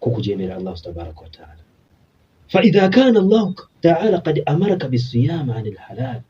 ku kujeemera allahu tabaraka wataala faidha kana allahu taala kad amaraka bisiyaama ani lhalaal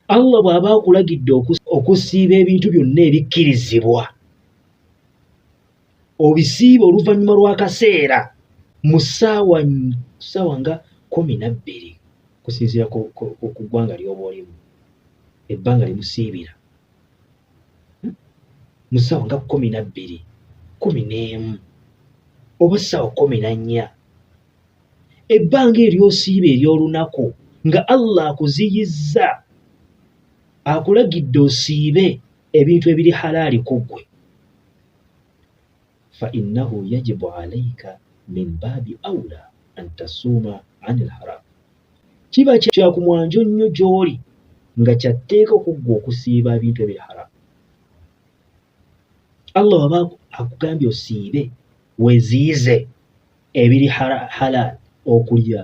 allah bw'aba akulagidde okusiiba ebintu byonna ebikkirizibwa obisiiba oluvannyuma lw'akaseera mu ssaawa ssaawa nga kumi na bbiri kusinziira ku ggwanga ly'oba olimu ebbanga limusiibira hmm? mu ssaawa nga kkumi na bbiri kkumi n'emu oba ssaawa kkumi na nnya ebbanga eryosiiba ery'olunaku nga allah akuziyizza akulagidde osiibe ebintu ebiri halaali ku ggwe fainahu yajibu alaika min baabi aula an tasuuma ani lharam kiba kyakumwanjo nnyo gy'oli nga kyatteeka okuggwa okusiiba ebintu ebiri haramu allah waba akugambye osiibe weziize ebiri halaal okulya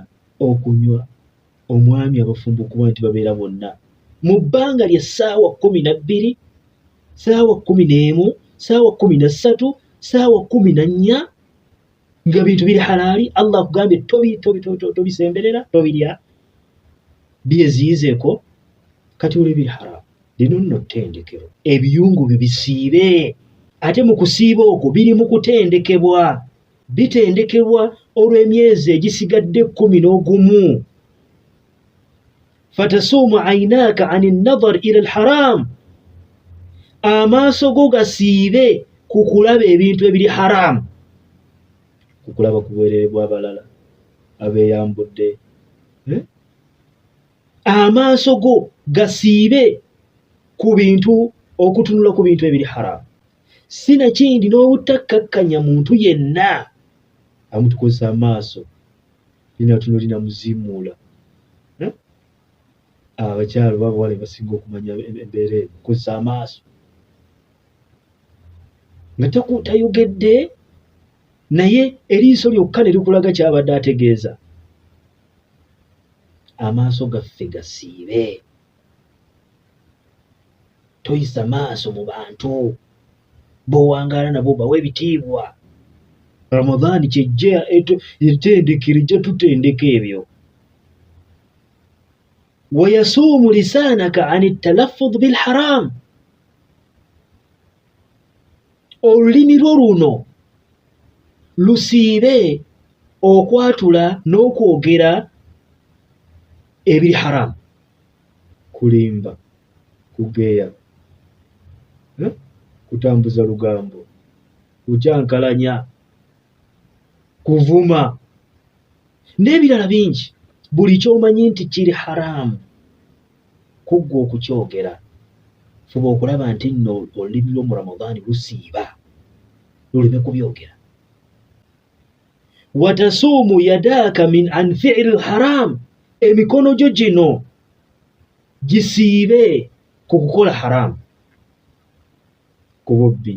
okunywa omwami abafumba okuba nti babeera bonna mu bbanga lya ssaawa kumi na bbiri ssaawa kumi n'emu ssaawa kumi na ssatu ssaawa kumi na nnya nga bintu biri halaali allah akugambye tobisemberera tobirya byeziyizeeko kati oli biri haramu lino nno ttendekero ebiyungu byo bisiibe ate mu kusiiba okwo biri mu kutendekebwa bitendekebwa olw'emyezi egisigadde ekkumi n'ogumu fatasuumu ainaaka an nadar ila lharamu amaaso go gasiibe ku kulaba ebintu ebiri haramu ku kulaba ku bwerere bw'abalala abeeyambudde eh? amaaso go gasiibe ku bintu okutunula ku bintu ebiri haramu si nakindi n'obutakkakkanya muntu yenna amutukozesa amaaso linatunulina muzimuula hmm? abakyalo babawala basinga okumanya embeera eno kozesa amaaso nga tayogedde naye eriiso lyokka ne likulaga kyabadde ategeeza amaaso gaffe gasiibe toyisa maaso mu bantu bowangaala nabo bawa ebitiibwa ramadaani kyejja etendekero ejja tutendeka ebyo wayasuumu lisaanaka an talaffud bilharamu olulimi lwo luno lusiibe okwatula n'okwogera ebiri haramu kulimba kugeya eh? kutambuza lugambo kukyankalanya kuvuma n'ebirala bingi buli kyomanyi nti kiri haramu kuggwa okukyogera fuba okulaba nti nno olulimi lwo mu ramadaani lusiiba luleme kubyogera watasuumu yadaaka min an fiiri lharamu emikono gyo gino gisiibe ku kukola haramu ku bubbi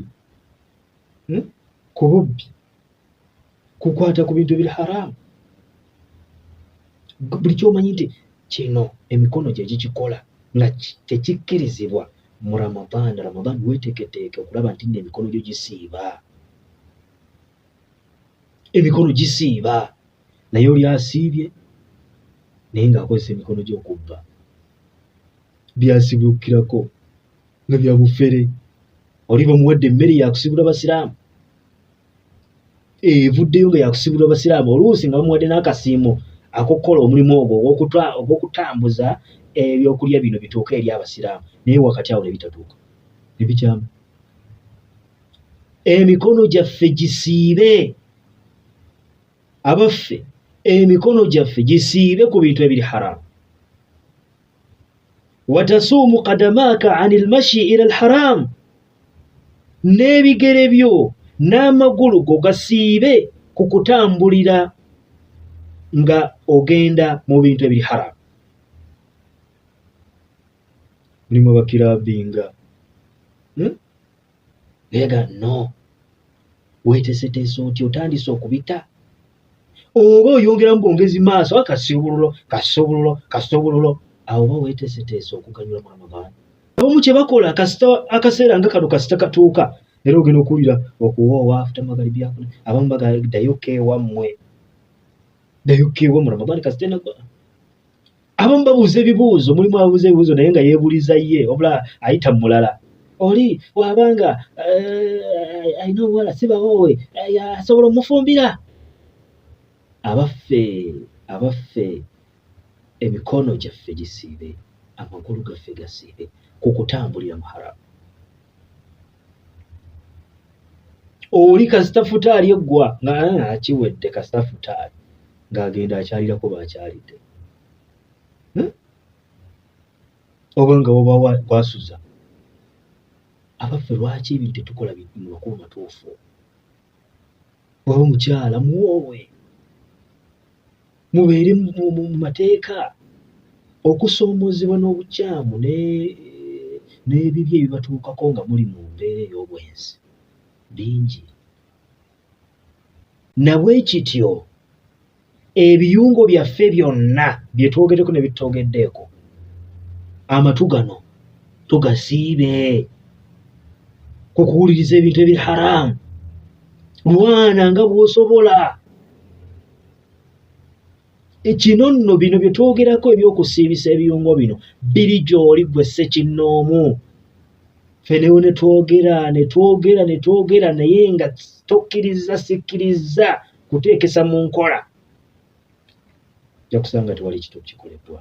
hmm? ku bubbi kukwata ku bintu biri haramu buli kyomanyi nti kino emikono gye gikikola nga tekikkirizibwa mu ramadhan ramadhan weteketeeke okulaba nti no emikono gyo gisiiba emikono gisiiba naye oli asiibye naye ng'akozesa emikono gy'okubba byasibukirako nga bya bufere oli bamuwadde emmere yakusibula basiraamu evuddeyo nga yakusibula basiraamu oluusi nga bamuwadde n'akasiimo akokukola omulimu ogwo ogw'okutambuza ebyokulya bino bituuka eri abasiraamu naye wakati awo ne bitatuuka ne bikyama emikono gyaffe gisiibe abaffe emikono gyaffe gisiibe ku bintu ebiri haramu watasuumu kadamaaka ani lmashi ila lharamu n'ebigere byo n'amagulu go gasiibe ku kutambulira nga ogenda mu bintu ebiri haramu mulimu abakirabinga hmm? naye ga no weteseteese otya otandise okubita oba oyongeramu bwongezi maaso a kasiubululo kasiubululo kasiubululo awo oba weteseteese okuganyula mwana maani abamu kyebakola kasita akaseera nga kano kasita katuuka era ogenda okuwulira okuwoowa afuta magari byakuna abamu bagadayo keewammwe dayo keewammwe ramadan kasita enagwa abamu babuuza ebibuuzo mulimu abuuza ebibuuzo naye nga yeebuliza ye wabula ayita mulala oli wabanga eh, alina obuwala sibawoowe eh, asobola omufumbira abaffe abaffe emikono gyaffe gisiibe amagulu gaffe gasiibe ku kutambulira mu haramu oli kasita futaali eggwa nga ah, akiwedde kasita futaali ng'agenda akyalirako baakyalidde hmm? oba nga woba wasuza abaffe lwaki ebintu tetukola mu makulu matuufu oba omukyala muwoowe mubeere mu mateeka okusoomoozebwa n'obukyamu n'ebibi ebibatuukako nga muli mu mbeera ey'obwenzi bingi nabwe kityo ebiyungo byaffe byonna bye twogeddeko ne bitutogeddeeko amatu gano tugasiibe ku kuwuliriza ebintu ebiri haraamu lwana nga bw'osobola kino nno bino bye twogerako eby'okusiibisa ebiyungo bino biri gy'oli gwe ssekinnoomu fenewo ne twogera ne twogera ne twogera naye nga tokkirizza sikkirizza kuteekesa mu nkola ojja kusanga tewali kito kikoleddwa